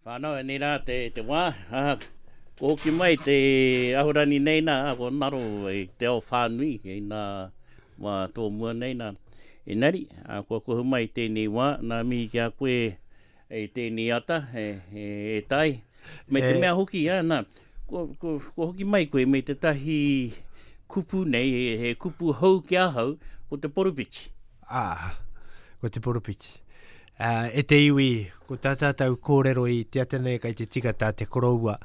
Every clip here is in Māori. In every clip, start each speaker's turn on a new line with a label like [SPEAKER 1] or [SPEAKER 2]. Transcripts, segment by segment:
[SPEAKER 1] Whānau, e nei rā te wā, kua hoki mai te Ahurani nei nā, kua ngaro i te ao whānui, i nā wā tōmua nei nā. Engari, kua kuhu mai i tēnei wā, nā mihi ki a koe i tēnei ata, e Tai, me te mea hoki, nā, Ko, ko, ko hoki mai koe me te tahi kupu nei, he, he kupu hou ki ahau, ko te poropiti. Ā,
[SPEAKER 2] ko te poropiti. Ā, e te iwi, ko tā tātou kōrero i te ata nei kei te tika tā te koroua,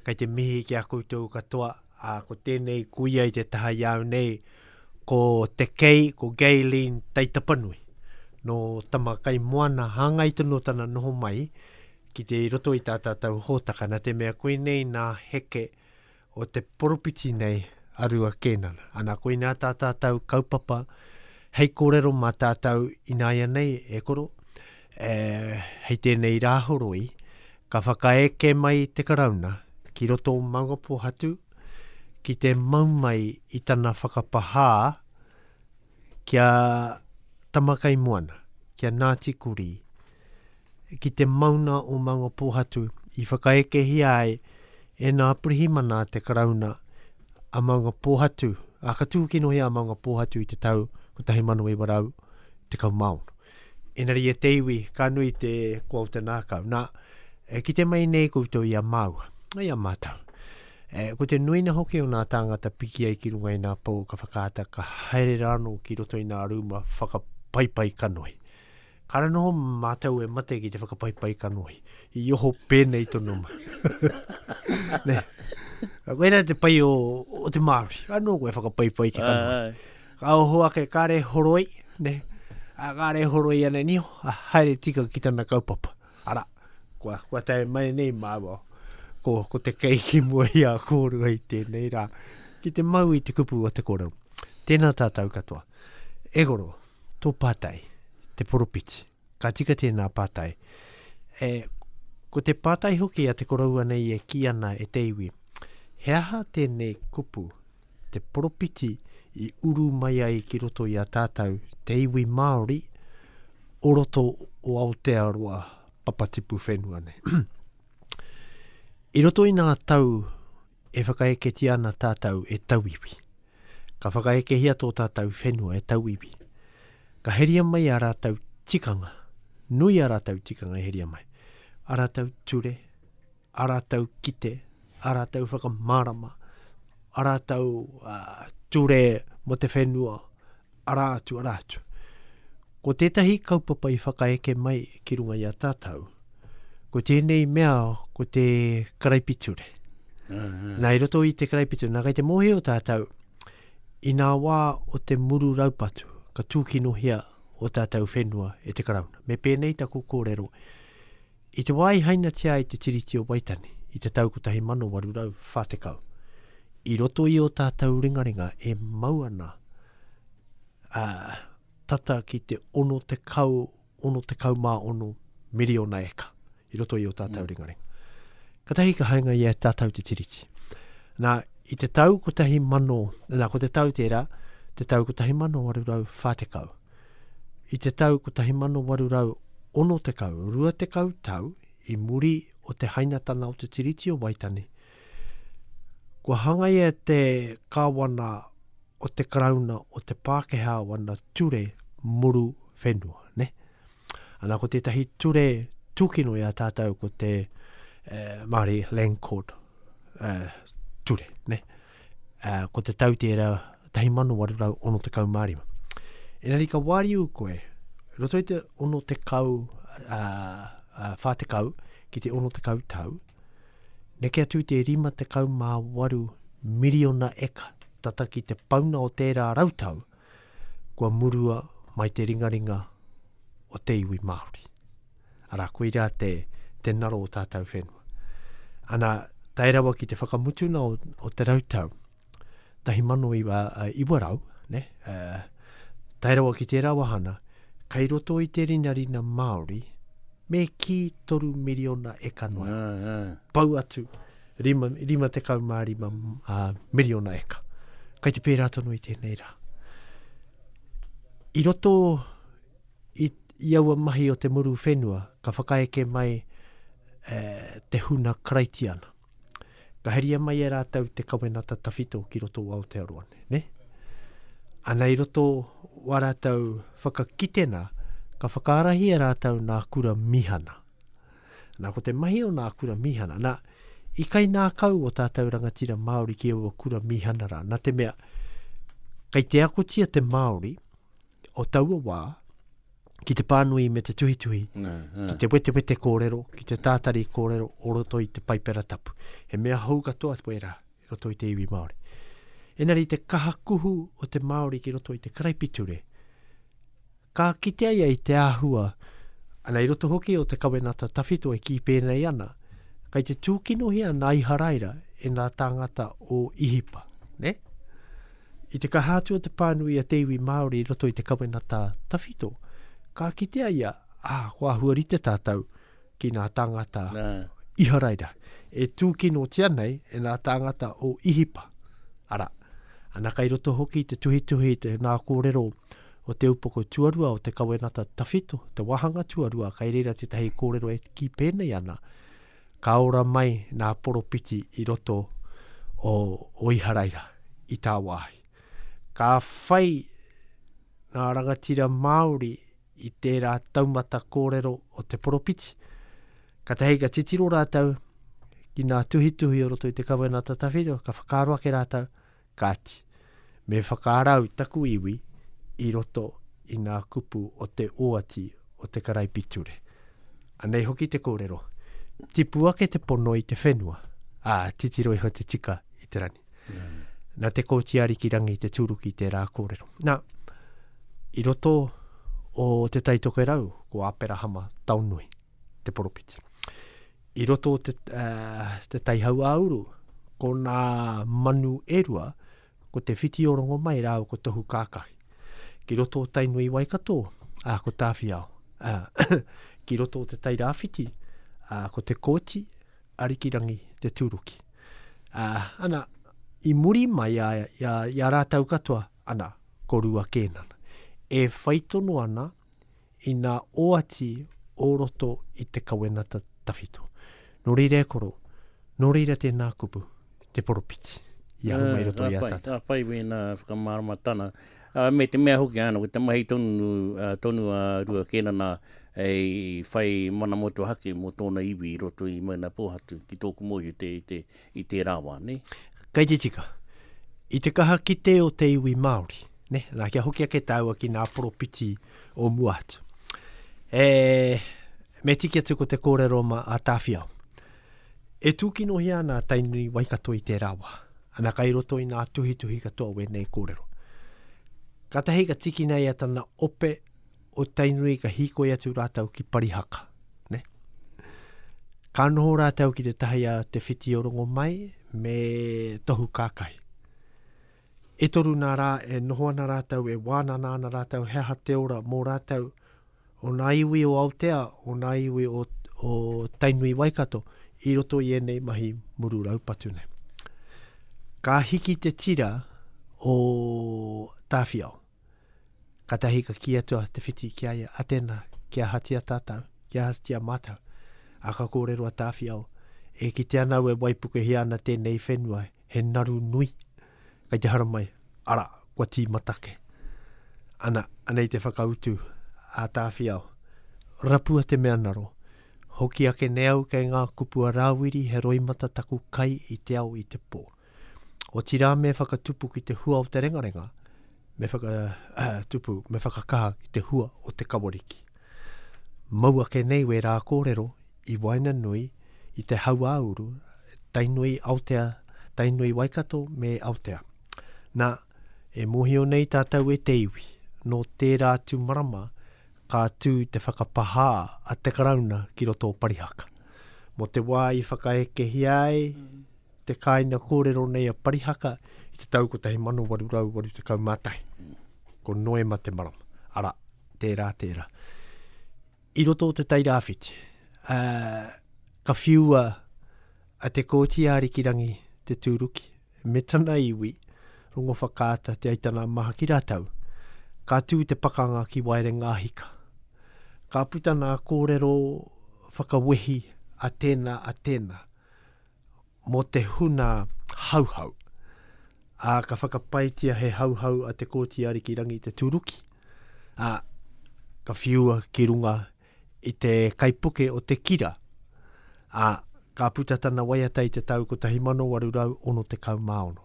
[SPEAKER 2] kei te mihi ki a koutou katoa, ā, ko tēnei kuia i te taha i au nei, ko te kei, ko Gayleen Taitapanui, nō Tamakaimoana, hāngai tonu o tana noho mai, Ki te i roto i tā tātou hōtaka, nā te mea koinei nā heke o te poropiti nei a Rua Kēnana. Ana, koinā tā tātou kaupapa hei kōrero mā tātou ināianei e koro, e, hei tēnei rā horoi, ka whakaeke mai te Karauna ki roto o Maungapōhatu ki te mau mai i tana whakapahā, ki a Tamakaimoana, ki a Ngāti Kurī, ki te mauna o Maunga Pōhatu i whakaekehia ai e nā pirihimana te karauna a Maunga Pōhatu, a ka tūkinohi a Maunga Pōhatu i te tau 1916. Engari e te iwi, ka nui te kua o te nākau. Nā, e kite mai nei koutou i a māua, i a mātou. E, ko te nuina hoki o nā tāngata piki ai ki runga i nā pou ka whakaata ka haere rānō ki roto i nā rūma whakapaipai kanohi. Kara noho mātou e mate ki te whakapaipai kanohi. I oho pēnei tono ma. Nei. Koe rā te pai o, o te Māori. Anō koe whakapaipai te kanohi. Ai, ai. Ka oho ake, kare horoi, ne, a, kare horoi ana niho, a, haere tika ki tana kaupapa. Ara, kua, kua tae mai nei māua, ko, ko te keiki mua i a kōrua i tēnei rā, ki te mau i te kupu o te kōrero. Tēnā tātou katoa. E goro, tō pātai, te poropiti. Ka tika tēnā pātai. E, ko te pātai hoki a te koroua nei e kī ana e te iwi, he aha tēnei kupu, te poropiti i uru mai ai ki roto i a tātou, te iwi Māori, o roto o Aotearoa papatipu whenua nei. I roto i nā tau E whakaeketia ana tātou e tauiwi. Ka whakaekehia tō tātou whenua e tauiwi. Ka heria mai a rātou tikanga. Nui a rātou tikanga e heria mai. A rātou ture, a rātou kite, a rātou whakamārama, a rātou uh, ture mo te whenua, Arā atu, arā atu. Ko tētahi kaupapa i whakaeke mai ki runga i a tātou, ko tēnei mea, ko te karaipiture. Uh -huh. Nā, i roto i te karaipiture, nā, kei te mōhio o tātou, i nā wā o te muru raupatu, ka tūkinohia o tātou whenua e te karauna. Me pēnei taku kōrero, I te wā i hainatia ai te Tiriti o Waitangi i te tau 1840, i roto i o tātou ringaringa e mau ana a, tata ki te 60, 66 miriona eka, i roto i o tātou mm. ringaringa. Katahi ka hainga i a tātou te Tiriti. Nā, i te tau 1000, nā, ko te tau tērā, te tau 1840, I te tau 1860, rua tekau tau i muri o te hainatanga o te Tiriti o Waitangi, kua hangaia te Kāwana o te Karauna o te Pākehā wana ture muru whenua. Ne? Ana ko tētahi ture tūkino i a tātou ko te eh, Māori Land Court eh, ture. Ne? uh, ko te tau tērā 1865. Engari ka wāriu koe, roto i te 60, uh, uh, 40 ki te 60 tau, neke atu te 58 miriona eka tata ki te pauna o tērā rautau, kua murua mai te ringaringa o te iwi Māori. Arā, koirā te, te naro o tātou whenua. Ana, tae rawa ki te whakamutuna o, o te rautau, tahi mano iwa, uh, iwa rau, ne? Uh, tae rawa ki tērā wahana, kai roto i te rinarina Māori, me ki toru miriona e kanoa. Yeah, yeah. Pau atu, Rima, rima tekau mā rima uh, miriona eka. Kai te pērā tonu i tēnei rā. I roto i, i aua mahi o te muru whenua, ka whakaeke mai uh, te huna karaitiana. Ka heria mai e rātou te kawenata tawhito ki roto o Aotearoa, ne? Ana i roto wa rātou whakakitena, ka whakaarahi e rātou nā kura mihana. Nā, ko te mahi o nā kura mīhana, nā, i kainākau o tātou rangatira Māori ki aua kura mīhana rā, nā te mea, kei te akotia te Māori o taua wā ki te pānui me te tuhituhi, nā, nā. ki te wetewete kōrero, ki te tātari kōrero o roto i te paipera tapu. He mea hou katoa wērā. i roto i te iwi Māori. Engari i te kaha kuhu o te Māori ki roto i te karaipiture, ka kitea ia i te āhua, ana i roto hoki o te kawenata tawhito e kī pēnei ana, kei te tūkinohia nā Iharaira e nā tāngata o Ihipa. Ne? I te kaha atu o te pānui a te iwi Māori i roto i te kawenata tawhito, ka kitea ia, ā, ah, ko āhua rite tātou, ki ngā tāngata Nā. Iharaira, e tūkinotia nei e ngā tāngata o Ihipa. Arā, ana kai roto hoki i te tuhituhi i te ngā kōrero o te upoko tuarua o te kawenata tawhito, te wāhanga tuarua, kai reira tētahi kōrero e kī pēnei ana, ka ora mai ngā poropiti i roto o, o Iharaira, i tāwāhi. Ka whai ngā rangatira Māori i tērā taumata kōrero o te poropiti. Ka tahei ka titiro rātou ki nā tuhituhi o roto i te Kawenata Tawhito, ka whakaaro ake rātou, kāti, me whakarau taku iwi i roto i ngā kupu o te oati o te karaipiture. Anei hoki te kōrero, tipu ake te pono i te whenua, ā, titiro iho te tika i te rangi. Na te kōti ariki rangi te tūruki te rā kōrero. Na, i roto o te taitoke rau, ko Aperahama Taonui, te poropiti. I roto o te, uh, te taihau a uru, ko nā manu e rua, ko te whiti o rongo mai rāo ko tohu kākahi. Ki roto o Tainui Waikato, uh, ko Tāwhiao. Uh, ki roto o te tairāwhiti, uh, ko te kōti, Arikirangi Te Tūruki. Ā, ana, i muri mai a, i a, i a rātou katoa, ana, ko Rua Kēnana, e whai tono ana i nā oati o roto i te kawenata tawhito. Nō reira e koro, nō reira tēnā kupu, te poropiti, i ahu mai roto i a tātou. Ā, ka pai wēnā
[SPEAKER 1] whakamāramatana. Me te mea hoki āna, ko te mahi tonu a Rua Kēnana hei whai mana motuhake mō tōna iwi i roto i Maunapōhatu ki tōku mōhio i tērā wā. Kei te tika.
[SPEAKER 2] I te kaha kite o te iwi Māori, nā, kia hoki ake tāua ki ngā poropiti o mua atu. E, me tiki atu ko te kōrero mā a Tāwhiao. E tūkinohia ana a Tainui Waikato i tērā wā, ana kai roto i ngā tuhituhi katoa wēnei kōrero. Kātahi ka tiki nei a tana ope o Tainui ka hīkoi atu rātau ki Parihaka, ne? Ka noho rātau ki te tahi a Te Whiti o Rongomai me Tohu Kākahi. E toru nā rā e noho ana rātau, e wānana ana rātau he aha te ora mō rātau, o ngā iwi o Aotea, o ngā iwi o, o Tainui Waikato, i roto i ēnei mahi muru raupatu nei. Ka hiki te tira o Tāwhiao. Katahi ka kī atu a Te Whiti ki a ia, a tēnā, kia ahatia tātou, kia ahatia mātou. A ka kōrero a Tāwhiao, e kite ana au e waipuke hia ana tēnei whenua, he naru nui. Kei te haramai, ara, kua tīmata ke. Ana, anei te whakautu, a Tāwhiao. Rapua te mea naro. Hoki ake nei au kei ngā kupu a Rāwiri he roimata taku kai i te ao i te pō. Otirā me whakatupu ki te hua o te rengarenga, Me whakatupu, me whakakaha ki te hua o te kawariki. Mau ake nei wērā kōrero i waenganui i te hauāuru Tainui Aotea, Tainui Waikato me Aotea. Nā, e mōhio nei tātou e te iwi, nō tērā atu marama ka tū te whakapahā a te Karauna ki roto o Parihaka. Mō te wā i whakaekehia ai, te kāinga kōrero nei a Parihaka i te tau 1881. Ko Noema te marama. Ara, tērā, tērā. I roto o te tairāwhiti, uh, ka whiua a te kōti a Arikirangi te tūruki, me tana iwi, rongo whakaata te aitana maha ki rātau. Ka tū te pakanga ki Waerenga Hika. Ka puta nā kōrero whakawehi a tēnā, a tēnā. mō te huna hauhau. Ā, ka whakapaetia he hauhau a te Kōti Arikirangi te tūruki, ā, ka whiua ki runga i te kaipuke o Te Kira, ā, ka puta tana waiata i te tau 1866.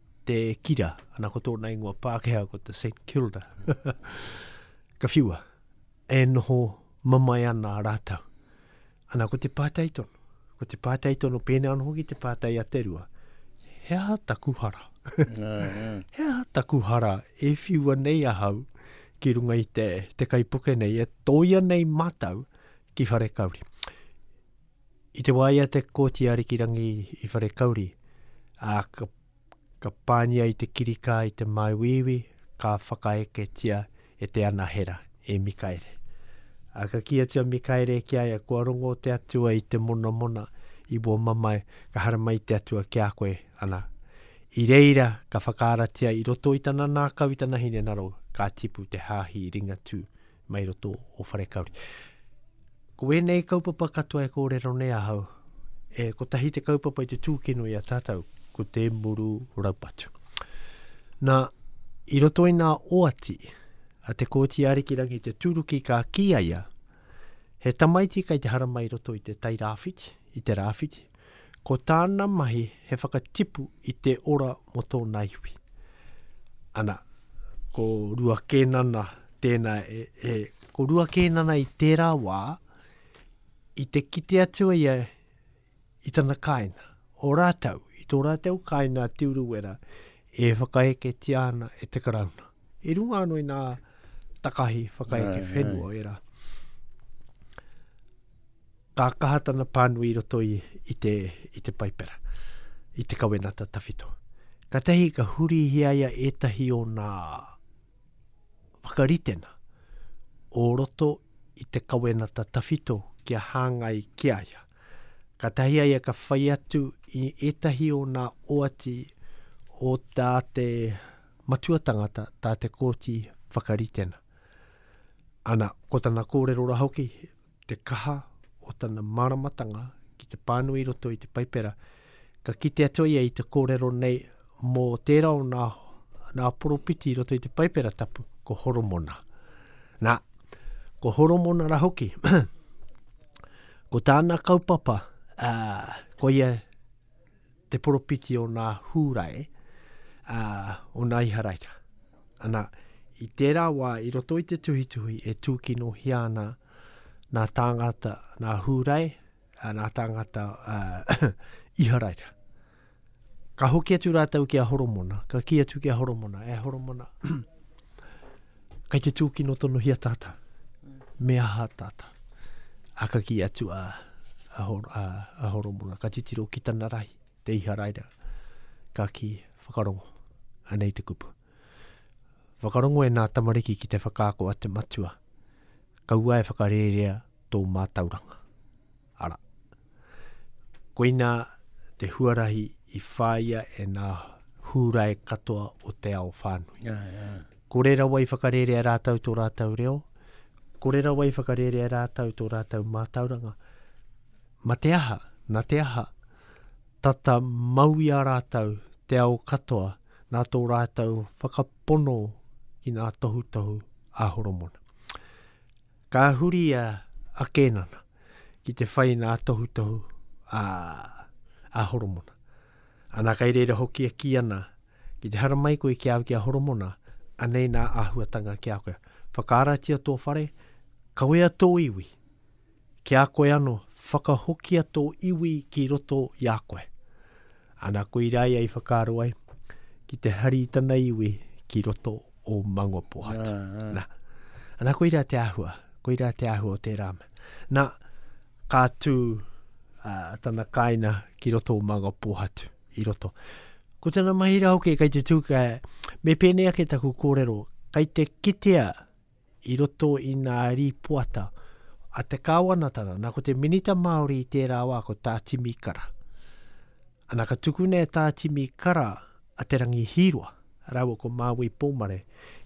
[SPEAKER 2] te kira, ana ko tōna ingoa Pākehā ko te St. Kilda. Ka whiua, e noho mamae ana a rātau. Ana ko te pātai tono, ko te pātai tono, pēnā anō hoki te pātai a te rua, he aha taku hara? he aha taku hara e whiua nei ahau ki runga i te, te kaipuke nei, e tōia nei mātau ki whare kauri? I te wā ia te Kōti Arikirangi i Wharekauri, ā, ka, ka pāngia i te kirikā i te māuiui, ka whakaeketia e te anahera, e Mikaere. Ā, ka kī atu a Mikaere ki a ia, Kua rongo te Atua i te monamona i wō mamae, ka harama i te Atua ki a koe, ana, i reira ka whakaaratia i roto i tana nākau i tana hinengaro, ka tipu te hāhi Ringatū mai roto o Wharekauri. Ko ēnei kaupapa katoa e kōrero nei ahau, e kotahi te kaupapa i te tūkino i a tātou, ko te muru raupatu. Nā, i roto i nā oati, a te kōti arikirangi te tūruki ka kīaia, he tamaiti kai te haramai roto i te tai rāwhiti, i te rāwhiti, Ko tāna mahi he whakatipu i te ora mō tōna iwi. Ana, ko Rua Kēnana tēnā e, e, ko Rua Kēnana i tērā wā, i te kite atu a ia i tana kāina, o rātou, i tō rātou kāina a Te Urewera, e whakaeketia ana e te Karauna. I runga anō i nā takahi whakaeke whenua o ērā. Ka kaha tana pānui i roto i, i, te, i te paipera, i te kawenata tawhito. Ka tehi ka hurihia ia ētahi o nā whakaritenga o roto i te kawenata tawhito kia hāngai ki a ia. Ka tahi a ia ka whai atu i ētahi o nā oati o tā te matua tangata, tā te kōti whakaritenga. Ana, ko tana kōrero ra hoki, te kaha o tana māramatanga ki te pānui i roto i te Paipera, ka kite atu ia i te kōrero nei mō tērā o nā, nā poropiti i roto i te Paipera tapu, ko Horomona. Nā, ko Horomona ra hoki, ko tāna kaupapa, ā, ko ia te poropiti o nā Hūrae, ā, o nā Iharaira. Ana, i tērā wā, i roto i te tuhituhi e tūkinohia ana nā tāngata, nā Hūrae, ā, nā tāngata ā, Iharaira. Ka hoki atu rātou ki a Horomona, ka kī atu ki a Horomona, e Horomona, Kai te tūkino tonohia tātau, me aha tātau? A ka ki atu a, a, hor, a, a Horomona, ka titiro ki tana rahi, te Iharaira, ka ki whakarongo, anei te kupu. Whakarongo e nā tamariki ki te whakaako a te matua, kaua e whakarērea tō mātauranga. Ara. Koina te huarahi i whāia e nā Hūrae katoa o te ao whānui. Yeah, yeah. Kore rawa i whakarērea rātau tō rātau reo, kore rawa i whakarērea rātau tō rātau mātauranga. Ma te aha, na te aha, tata mau i a rātau te ao katoa nā tō rātau whakapono ki nā tohutohu a Horomona. Ka huri a, a Kēnana ki te whai nā tohutohu a, a Horomona. Ana kai reira hoki e kī ana, ki te haramai koe ki au ki a Horomona, anei nā āhuatanga ki a koe. Whakaaratia tō whare, kawea tō iwi. Ki a koe ano, whakahokia tō iwi ki roto i a koe. Ana koirā ia i whakaaro ai ki te hari tana iwi ki roto o Mangopohatu. Ah, ah. Na, ana koirā te ahua, koirā te ahua o tērā. Na, ka tū uh, tana kāina ki roto o Mangopohatu, i roto. Ko tana mahi rā hoki, kei te tū, ka, me pēnei ake taku kōrero, kei te kitea i roto i ngā rīpoata a te Kāwanatanga. Nā, ko te Minita Māori i tērā wā, ko Tā Timi Kara. Ana, ka tukuna e Tā Timi Kara a Te Rangi Hīroa rāua ko Māui Pōmare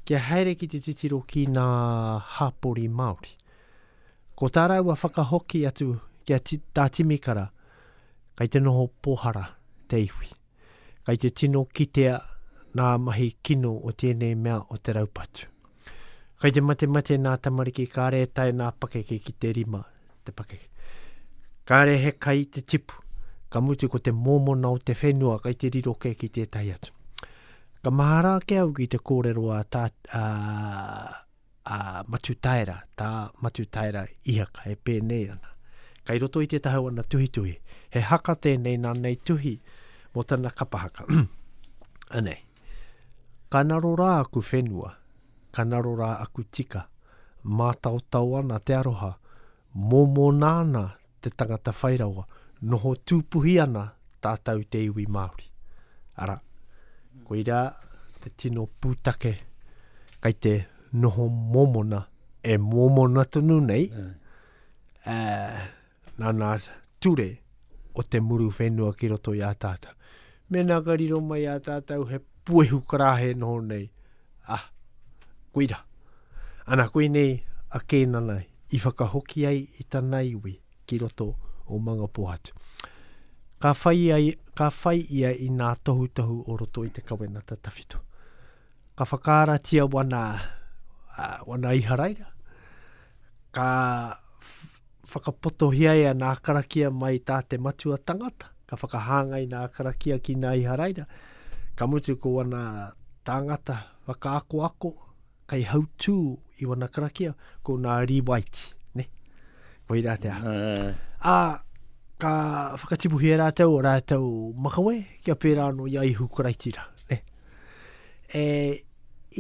[SPEAKER 2] kia haere ki te titiro ki ngā hapori Māori. Ko tā rāua whakahoki atu ki a Tā Timi Kara, kei te noho pōhara te iwi. Kei te tino kitea ngā mahi kino o tēnei mea o te raupatu. Kei te matemate ngā tamariki kāre e tae ngā pakeke ki te rima te pakeke. Kāre he kai te tipu, ka mutu ko te mōmona o te whenua kei te riro kē ki tētahi atu. Ka mahara ake au ki te kōrero a, tā, a, a Matutaera, tā Matutaera Ihaka e pēnei ana. Kai roto i te taha o ana tuhituhi, he haka tēnei nā nei tuhi mō tana kapa haka. Anei, ka naro rā aku whenua, ka naro rā aku tika, mātaotao ana te aroha Momo nāna te tangata whai rawa, noho tūpuhi ana tātou te iwi Māori. Arā, koirā te tino pūtake kai te noho mōmona, e mōmona tonu nei, ā, nāna ture o te muru whenua ki roto i a tātou. Mēnā ka riro mai ā tātou he puehu karāhe noho nei, ā, koirā. Ana koinei a Kēnana i whakahoki ai i tana iwi ki roto o Mangapohatu. Ka whai ia, ka whai ia i ngā tohutohu o roto i te Kawenata Tawhito. Ka whakaaratia wana, ā, wana Iharaira, Ka whakapotohia e ana karakia mai tā te matua tangata, ka whakahāngai nā karakia ki nā Iharaira, ka mutu ko ana tāngata whakaakoako, kai hautū i wana karakia, ko nā Riwaiti, ne? Ko i rātea. Uh. A, ka whakatipuhia rātou o rātou makawe, kia pērā anō i a Ihu Karaitira, ne? E,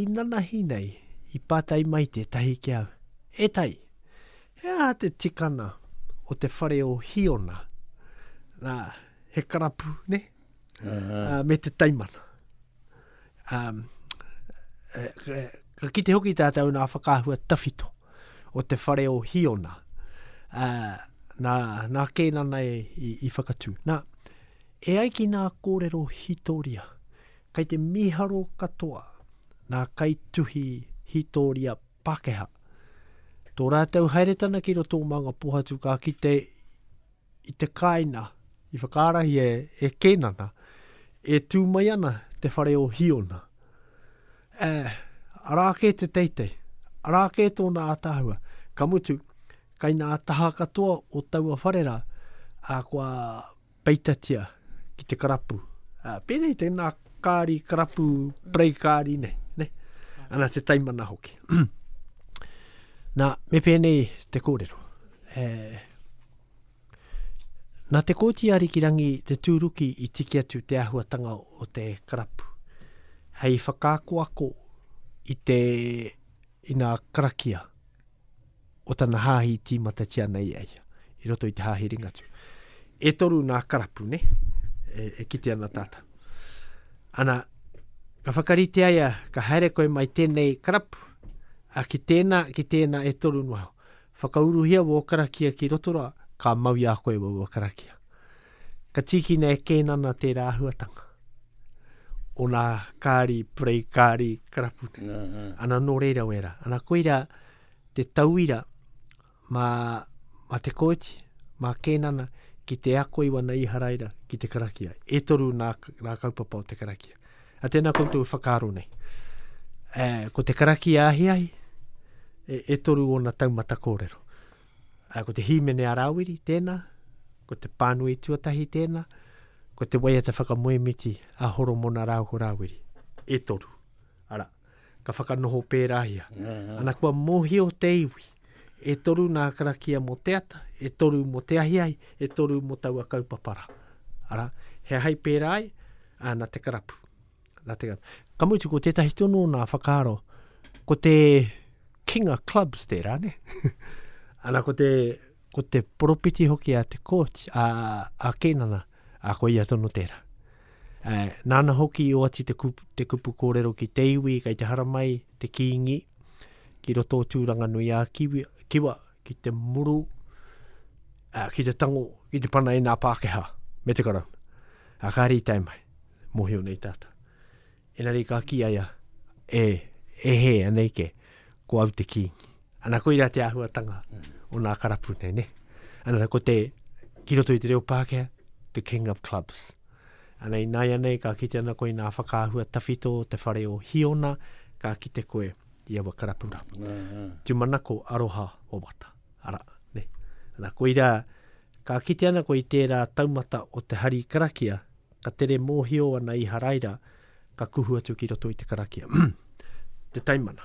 [SPEAKER 2] inanahi nei, i patai mai tetahi ki au, E tai, he aha te tikana o te whare o Hiona? Na, he karapu, ne? Uh, me te taimana. Um, ka kite hoki tātou nā whakahua tawhito o te whare o Hiona. Uh, nā, nā kēnana e, i, i whakatū. Nā, E ai ki nā kōrero hītoria, kei te mīharo katoa nā kaituhi hītoria Pākehā tō rātou haeretana ki roto o Mangapohatu ka kite i te kāinga i whakaarahia e Kēnana e tū mai ana te whare o Hīona. Ē, arā kē te teitei, arā kē tōna ātaahua, ka mutu, kei nā taha katoa o taua whare rā, ā, kua. Peitatia ki te karapu. Uh, pēnei tēnā kāri, karapu, prei kāri nei, ne? Ana te taimana hoki. Nā, me pēnei te kōrero. E, nā te kōti arikirangi te tūruki i tiki atu te ahuatanga o te karapu. Hei whakaakoako i te ina karakia, o tana hāhi i tīmatatia ana i a ia, i roto i te hāhi ringatū. E toru nā karapu, ne? E, e kite ana tātou. Ana, ka whakarite aia, ka haere koe mai tēnei karapu, a ki tēnā, ki tēnā e toru noa. Whakauruhia wō karakia ki roto rā, ka mau i a koe wō karakia. Ka tīkina e Kēnana tērā āhuatanga. O nā kāri, prei kāri, karapu. Uh -huh. Ana nō reira wera. Ana koira te tauira mā, mā te kōti, mā Kēnana, ki te ako i wana iharaira ki te karakia. E toru nā, nā kaupapa o te karakia. A tēnā koutou whakaaro nei. E, ko te karakia ahiahi, e, e toru ona taumata kōrero. uh, ko te hīmene a Rāwiri tēnā, ko te pānui tuatahi tēnā, ko te waiata whakamoemiti a Horomona rāu ko Rāwiri. E toru. Ara, ka whakanoho pērāhia. Ana kua mōhio te iwi, e toru nā karakia mō te ata, e toru mō te ahiahi, e toru mō taua kaupapara. Ara, he hai pērā ai, ana te karapu. Nā te gan. Ka mutu, ko tētahi tonu o nā whakaaro, ko te King of Clubs tērā, ne? Ana, ko te, ko te poropiti hoki a te kōti, a, a Kēnana, a ko ia tonu tērā. E, nāna hoki o ati te kupu, te kupu kōrero ki te iwi, kei te haramai, te kīngi, ki roto o tūranga nui a kiwi, kiwa, ki te muru, a, ki te tango, ki te pana i nā Pākehā, me te karau. A ka rītai mai. mohio nei tātou. Enari ka ki aia, e, e he anei ke, ko au te kīngi. Ana koira te āhuatanga o nā karapu nei, ne? Ana ko te, ki roto i te reo Pākehā, the king of clubs. Ana i nāia nei ka kite ana koe i nā whakaahua tawhito te whare o Hiona, ka kite koe i awa karapura. Mm, mm. Tumanako aroha o wata. Ara, ne? Ana koira, ka kite ana koe i tērā taumata o te hari karakia, ka tere mōhio ana Iharaira, ka kuhu atu ki roto i te karakia. te taimana.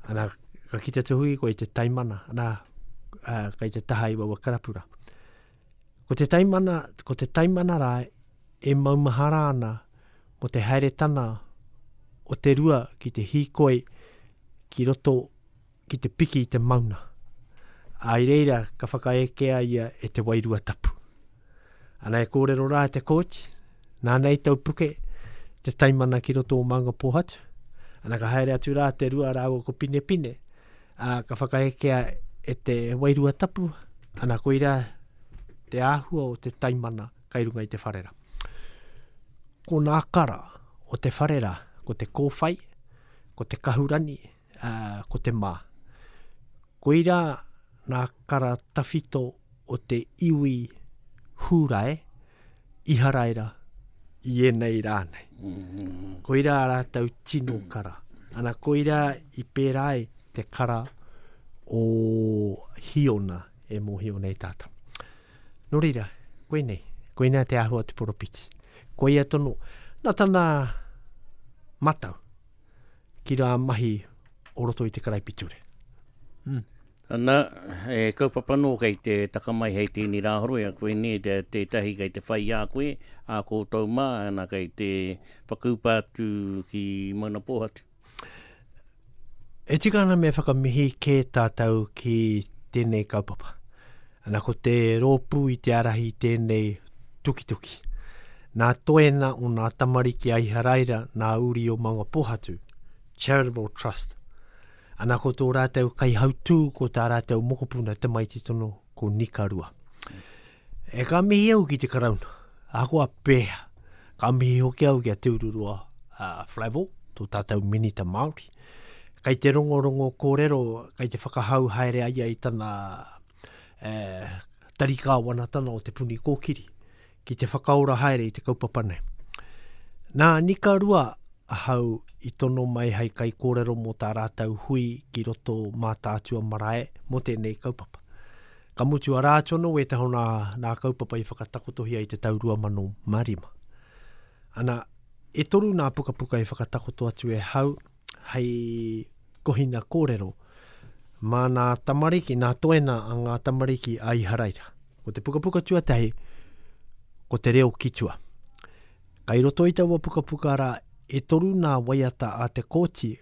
[SPEAKER 2] Ana, ka kite te hui ko i te taimana, ana, uh, kai te taha i wawa karapura. Ko te taimana, ko te taimana rā, e maumahara ana, ko te haeretana o te rua ki te hikoi ki roto ki te piki i te mauna. Ai reira ka whakaekea ia e te wairua tapu. Ana e kōrero rā te kōti, nā nei tau puke te taimana ki roto o Maunga Pōhatu. Ana ka haere atu rā te rua rāua ko Pinepine, a, ka whakaekea e te wairua tapu, ana koira te āhua o te taimana kai runga i te wharera. Ko nā kara o te wharera, ko te kōwhai, ko te kahurani, uh, ko te mā. Koirā nā kara tawhito o te iwi hūrae, iharaira, i enei rā nei. Mm-hmm. Koirā rātou tino kara. Ana koirā i pērā ai te kara o Hiona e mōhio nei tātou. Nō reira, koinei, koinei te ahua te poropiti. Koia tono, na tana matau. ki rā mahi o roto i te karaipiture. Mm.
[SPEAKER 1] Ana, e kaupapa nō kei te taka mai hei tēnei rā horoi a koe nē, te, tētahi kei te whai a koe, a koutou mā, ana kei te whakaupa atu ki Mauna Pōhatu.
[SPEAKER 2] E tika ana me whakamihi kē tātou ki tēnei kaupapa. Ana ko te rōpū i te arahi i tēnei tukituki. Nā Toena o nā tamariki a Iharaira nā uri o Mangapohatu, Charitable Trust. Ana ko tō rātou kaihautū ko tā rātou mokopuna tamaiti tono ko Nikarua. E ka mihi au ki te Karauna, ahakoa pēhea, Ka mihi hoki au ki a Te Ururoa uh, Flavell, tō tātou Minita Māori. Kei te rongorongo kōrero, kei te whakahau haere ai ai tana uh, tari kāwanatana o te puni kōkiri, ki te whakaora haere i te kaupapa nei. Nā Nika Rua ahau i tono mai hai kai kōrero mō tā rātou hui ki roto mā tātua marae mō tēnei kaupapa. Ka mutu a Rātono wētahi o nā, nā kaupapa i whakatakotohia i te tau 2005. Ana, e toru nā pukapuka i whakatakoto atu e hau hei kohina kōrero mā nā tamariki, nā toena a ngā tamariki a Iharaira. Ko te pukapuka tuatahi, ko te reo ki tua. Kai roto i taua pukapuka rā, e toru nā waiata a te kōti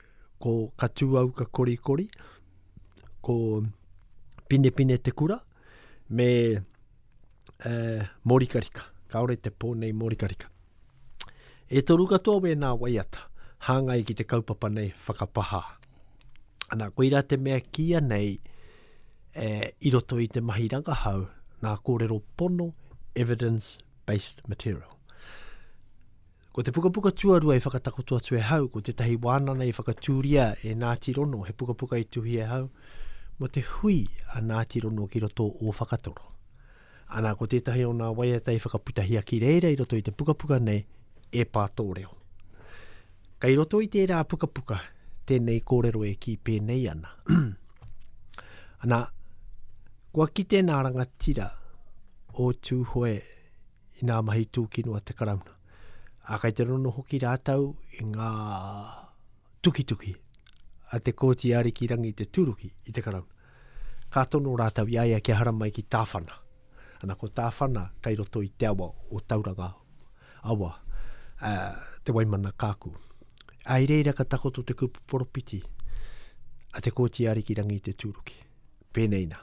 [SPEAKER 2] ko Katuauka Korikori, ko Pinepine Te Kura, me uh, Morikarika. Kaore te pō nei Morikarika. E toru katoa wēnā waiata, hāngai ki te kaupapa nei whakapaha. Ana, koirā te mea kia nei, eh, i roto i te mahi rangahau, nā kōrero pono, evidence-based material. Ko te pukapuka tuarua i whakatakoto atu e hau ko tētahi wānanga i whakatūria e Ngāti Rono, he pukapuka i tuhi e hau mō te hui a Ngāti Rono ki roto o Whakatoro. Ana, ko tētahi o ngā waiata i whakaputahia ki reira i roto i te pukapuka nei e pā tō reo. Kei roto i tērā pukapuka tēnei kōrero e kī pēnei ana. Ana, kua kite nā rangatira o Tūhoe i ngā mahi tūkino a te Karauna. Ā, kei te rono hoki rātou i ngā tukituki a te Kōti Arikirangi te tūruki i te Karauna. Ka tono rātou i a ia kia haramai ki Tāwhana. Ana, ko Tāwhana kei roto i te awa o Tauranga awa, ā, te Waimana Kaaku. Ā, i reira ka takoto te kupu poropiti a te Kōti Arikirangi te tūruki. Pēnei nā.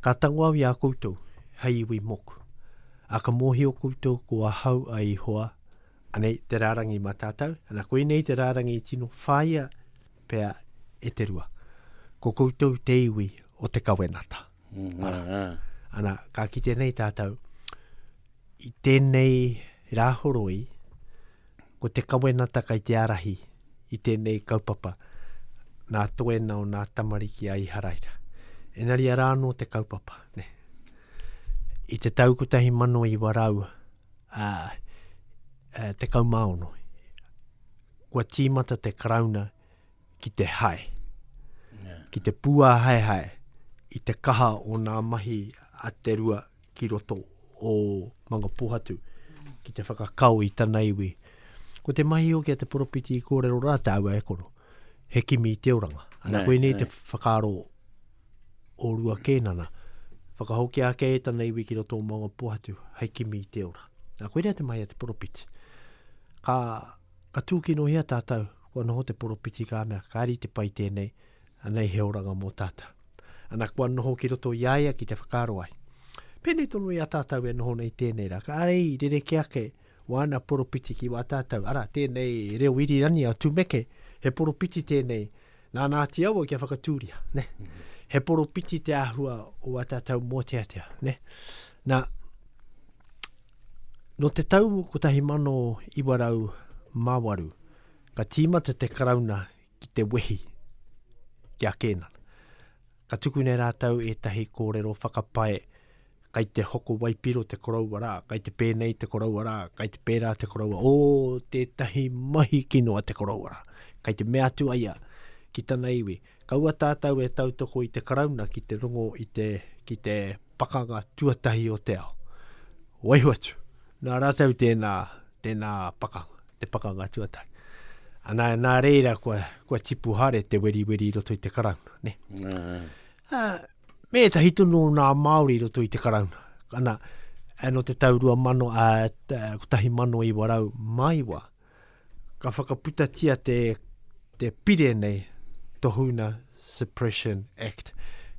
[SPEAKER 2] Ka tango au i a koutou, hei iwi moku. A ka mōhio koutou ko ahau a Ihoa, anei te rārangi mā tātou, ana koinei te rārangi i tino whāia pea e te rua. Ko koutou te iwi o te kawenata. Mm, Ara. Ah, ah. Ana, ka kite nei tātou, i tēnei rāhoroi, Ko te kawenata kei te arahi i tēnei kaupapa nā Toe nao nā Tamariki a Iharaira. Engari arā anō te kaupapa. Ne? I te tau 1900, a, a, te kaumaono, kua tīmata te karauna ki te hae, yeah. ki te pūāhaehae i te kaha o nā mahi a te rua ki roto o Mangapohatu ki te whakakao i tana iwi. Ko te mahi o kia te poropiti i kōrero rā te aua e koro, he kimi i te oranga. Ana koe nei te whakaaro o rua kēnana, whakahoki ake e tana iwi ki roto o Mangapohatu, hei kimi i te ora. Nā koe rea te mahi a te poropiti. Ka Ka tūkinohia tātou, kua noho te poropiti ka mea, kāre i te pai tēnei, anei he oranga mō tātou. Ana kua noho ki roto i a ia ki te whakaaro ai. Pēnei tonu i a tātou e noho nei tēnei rā, kāre i rerekē ake wāna poropiti ki wā tātou, arā, tēnei reo irirani a Tumeke, he poropiti tēnei, nā Nāti Awa kia whakatūria, ne? He poropiti te āhua o wā tātou mōteatea, ne? Nā, nō te tau 1908, ka tīmata te Karauna ki te wehi ki a Kēnana. Ka tukuna e rātou ētahi kōrero whakapae kai te hoko waipiro te koroua rā, kai te pēnei te koroua rā, kai te pērā te koroua, o tētahi mahi kino a te koroua rā. Kai te mea atu aia ki tana iwi, Kaua tātou e tautoko i te Karauna ki te rongo i te, ki te pakanga tuatahi o te ao. Waiho atu, nā rātou tēnā, tēnā pakanga, te pakanga tuatahi. Ana, nā reira kua, kua tipu hare te weriweri i roto i te Karauna, ne? Nā. Uh, ah, me etahi tonu o nā Māori i roto i te Karauna. Ana, anō te tau rua mano, uh, ah, kotahi mano iwa rau maiwa. Ka whakaputatia te, te pire nei, Tohuna Suppression Act.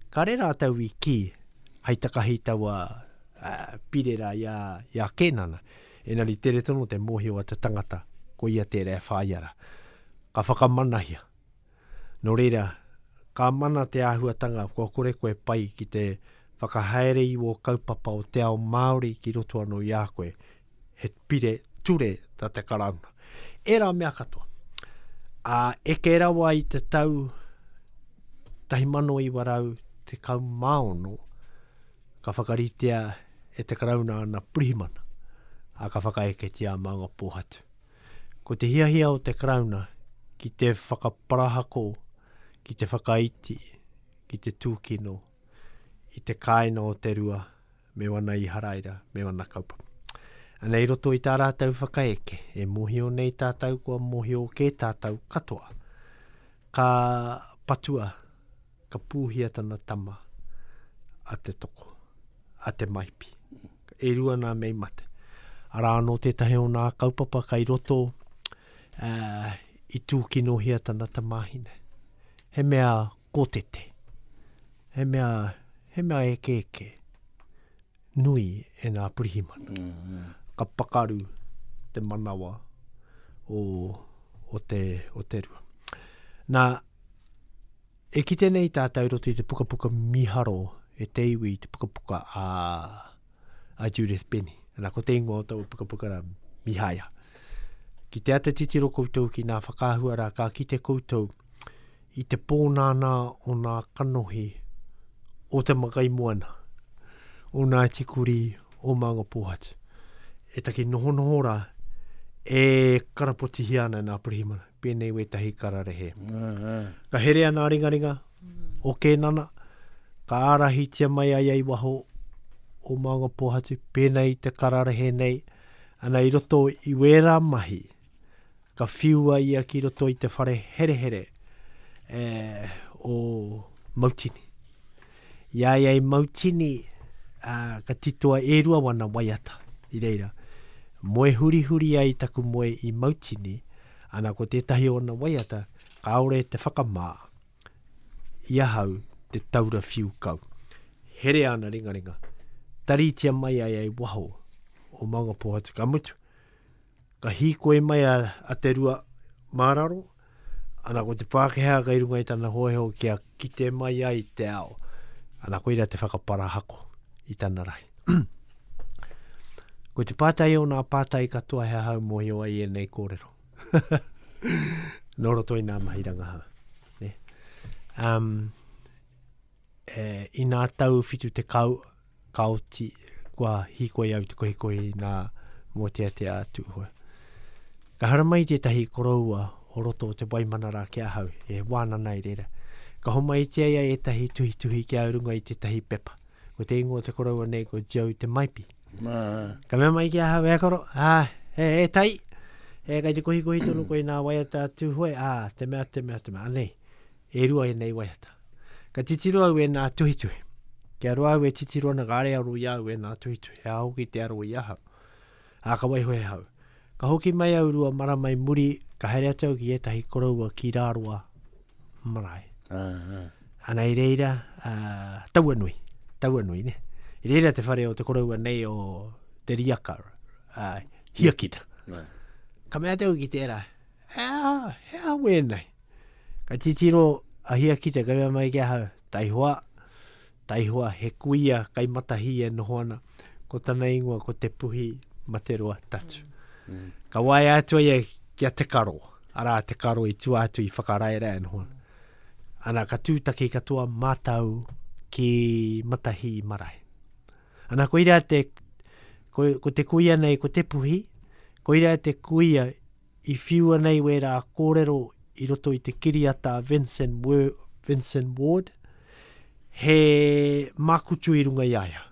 [SPEAKER 2] Ka re rātou i kī, hei takahi taua uh, pire rā i a, i a Kēnana. Enari tere tono te mōhio a te tangata, ko ia tērā e whāia rā. Ka whakamanahia. Nō reira, ka mana te āhuatanga kua kore koe pai ki te whakahaere i wō kaupapa o te ao Māori ki roto anō i a koe, he pire ture tā te Karauna. Ērā mea katoa. Ā, eke rawa i te tau 1916, ka whakaritea e te Karauna ana pirihimana, ā, ka whakaeketia a Maunga Pōhatu. Ko te hiahia o te Karauna ki te whakaparahako, ki te whakaiti, ki te tūkino i te kāinga o te rua me wana Iharaira, me wana kaupapa. Ana i roto i tā rātou whakaeke, e mōhio nei tātou kua mōhio kē tātou katoa, ka patua ka pūhia tana tama a te toko, a te maipi. E rua nā mei mate. Arā anō tētahi o nā kaupapa kai roto uh, i tūkinohia tana tamāhine. He mea kōtete. He mea, he mea eke eke. Nui e nā purihimana. Mm -hmm. Ka pakaru te manawa o, o, te, o te rua. Nā, E kite nei tātou roto i te pukapuka miharo e te iwi i te pukapuka a, a Judith Benny. Ana, ko te ingoa o taua pukapuka ra, Mihaia. Ki te ata titiro koutou ki nā whakaahua rā, ka kite koutou i te pōnānā o nā kanohi o te makai moana, o nā tikuri o Maunga Pōhatu. E taki nohonoho rā, e karapotihia ana nā pirihimana. pēnei wētahi kararehe. Ka herea nā ringaringa o Kēnana, ka ārahitia mai ai ai waho o Maunga Pōhatu, pēnei te kararehe nei, ana i roto i wērā mahi, ka whiua ia ki roto i te whare herehere e, o Mautini. I a ia i mau tini, ā, ka titoa e rua wana waiata. I reira, moe hurihuri ai taku moe i mau tini, ana ko tētahi o ona waiata, kāore te whakamā i ahau te taura whiu kau. Herea ana ringaringa, taritia mai ai ai waho o Maungapōhatu ka mutu. Ka hīkoi mai a, a Te Rua mā raro, ana ko te Pākehā kei runga i tana hōiho kia kite mai ai te ao. Ana koira te whakaparahako i tana rahi. ko te pātai o nā pātai katoa he aha mōhio ai ēnei kōrero. Nō roto i nā mahi rangahau. Ne? Um, E, I nā tau whitu te kau, ka oti kua hikoi au te kohikohi nā mō te atea atu hoa. Ka haramai tētahi koroua o roto o te waimanara ki ahau, e wānana i reira. Ka homai tia ia ētahi tuhituhi ki au runga i tētahi pepa. Ko te ingoa o te koroua nei ko Joe Te Maipi. Ka mea mai ki ahau, e koro, ā, e, e tai, e kei te kohikohi tonu koe nā waiata atu hoe, ā, te mea, te mea, te mea, anei. E rua ēnei waiata. Ka titiro au ēnā tuhituhi. Kia roa au e titiro ana ka are aro i a au ēnā tuhituhi, he aha hoki te aro i ahau. Ā, ka waiho he hau. Ka hoki mai au rua marama i muri, ka haere atu au ki ētahi koroua ki Rāroa marae. Ana i reira, ā, taua nui, taua nui, ne? I reira te whare o te koroua nei o Te Riaka, ā, Hiakita. Ka mea atu au ki tērā, he aha, he aha wēnei? Ka titiro a Hiakite, ka mea mai ki ahau, taihoa, taihoa he kuia kai matahi e noho ana, ko tana ingoa ko Te Puhi Materoa Tatu. Mm. Mm. Ka waia atu ai ki a Te Karo, arā Te Karo i tua atu i whakaraerae noho ana. Ana ka tūtaki katoa mātau ki Matahi marae. Ana koira te, ko, ko te kuia nei ko Te Puhi, koira te kuia I whiua nei wērā kōrero i roto i te kiriata a Vincent, Vincent Ward, he mākutu i runga i a ia.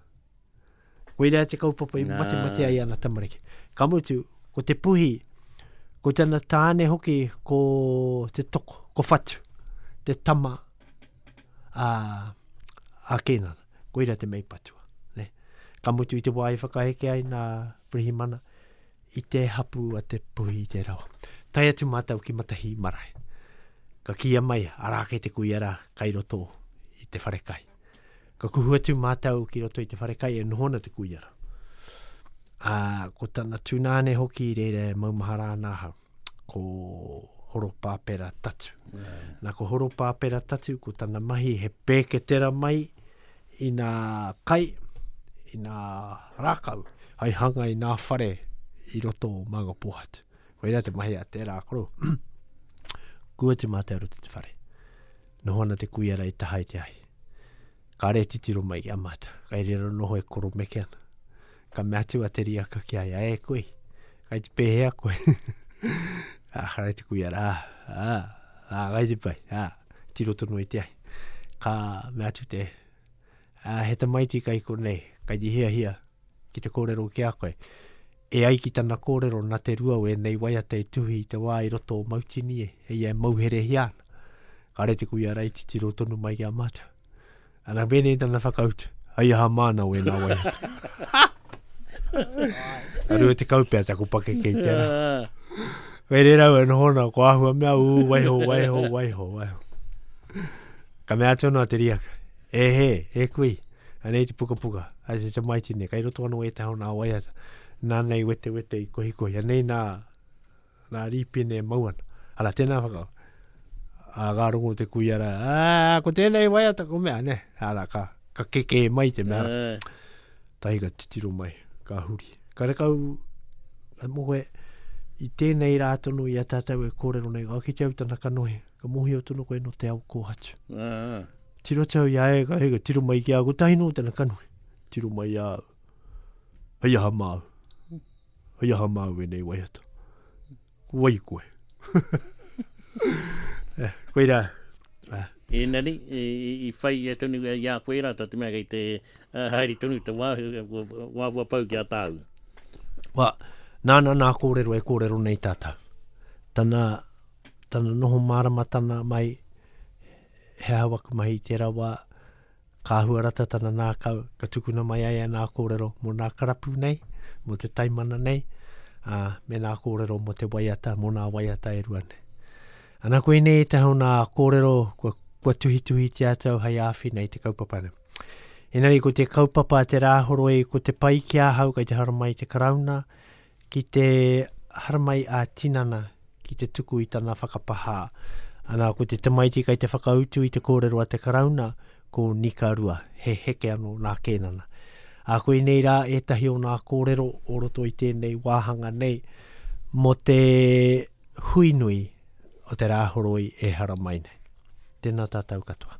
[SPEAKER 2] Koirā te kaupapa i mate mate ai ana tamariki. Ka mutu, ko te puhi, ko tana tāne hoki ko te toko, ko Whatu, te tama a, a Kēnana. Koirā te mei patua. Ne? Ka mutu i te wā i whakaheke ai nā Pirihimana, i te hapū a Te Puhi i te rawa. Tae atu mātou ki Matahī marae. Ka kīia mai, arā kei te kuia rā, kai roto i te whare kai. Ka kuhu atu mātou ki roto i te whare kai e noho ana te kuia rā. Ā, ko tana tūnāne hoki reira e maumahara ana ahau. ko Horopāpera Tatu. Yeah. Na ko Horopāpera Tatu, ko tana mahi he pēketera mai i nā kai, i nā rākau, hai hanga i nā whare i roto o Mānga Pōhatu. Ko ira te mahi a tērā koro. Kua te mātou roto te whare. Noho ana te kuia rei taha i te ahi. Ka re titiro mai i a mātou. Ka ere rero noho e koro meke ana. Ka mea atu a te riaka ki a ia, e koe, kai te pēhea koe. a, karai te kuia rā, a, a, kai te pai, a, tiro tono i te ai. Ka mea atu te, a, he tamaiti kai konei, kai te hia hia, ki te kōrero ki a koe. E ai ki tana kōrero, na te rua o ēnei waiata i tuhi i te wā i roto o Mautini e, e ia e mauherehia ana. Kare te kuia rā i titiro tonu mai ki a mātou. Ana bene tana whakautu. Hai aha māna o ena wai atu. Aru e te kaupea taku pake kei te ara. Wei re rau e noho na ko ahua mea u wai ho wai ho wai ho wai ho. Ka mea atu ana te riaka. E he, e kui. Anei te puka puka. Ai te te mai tine. Kai roto anu e te hao na wai atu. Nā nei wete wete i kohi kohi. Anei nā Nā Rīpene e mau ana. Ara, tēnā whakao. A ngā rongo te kuia rā, ā, ko tēnei waiata ko mea, ne? Ara, ka, ka kekē mai te mea. Tahi ka titiro mai, ka huri. Ka rekau, ka mohoe, i tēnei rā tono i a tātou e kōrero nei, ka kite au tana kanohi, ka mohio tono koe no te ao kōhatu. Tiro atu au i a e, ka hei, ka tiro mai ki a, ko tahi no tana kanohi. Tiro mai a, hei aha māu. Hei aha māu e nei waiata? Ko wai koe? eh, koe rā. Ah. E
[SPEAKER 1] nani, e, e, i whai e tonu e i a koe rā, tā te mea kei te uh, haere tonu te wā, wā wā pau ki a tāu. Wā, nāna
[SPEAKER 2] nā kōrero e kōrero nei tātou. Tana, tana noho māramatana mai, he hawa mahi tērā wā, Ka huarata tana nākau, ka tukuna mai ai anā kōrero mō nā karapu nei, mō te taimana nei, ā, me nā kōrero mō te waiata, mō nā waiata e rua nei. Ana koinei ētahi o nā kōrero kua, kua tuhituhitia atu au hei āwhina i te kaupapa nei. Engari ko te kaupapa te rāhoroi, ko te pai ki ahau kei te haramai te Karauna, Ki te haramai a tinana ki te tuku i tana whakapahā. Ana, ko te tamaiti kai te whakautu i te kōrero a te Karauna, ko Nika Rua, he heke anō nā Kēnana. A koinei rā ētahi o nā kōrero o roto i tēnei wāhanga nei mō te hui nui o te Rāhoroi e haramai nei. Tēnā tātou katoa.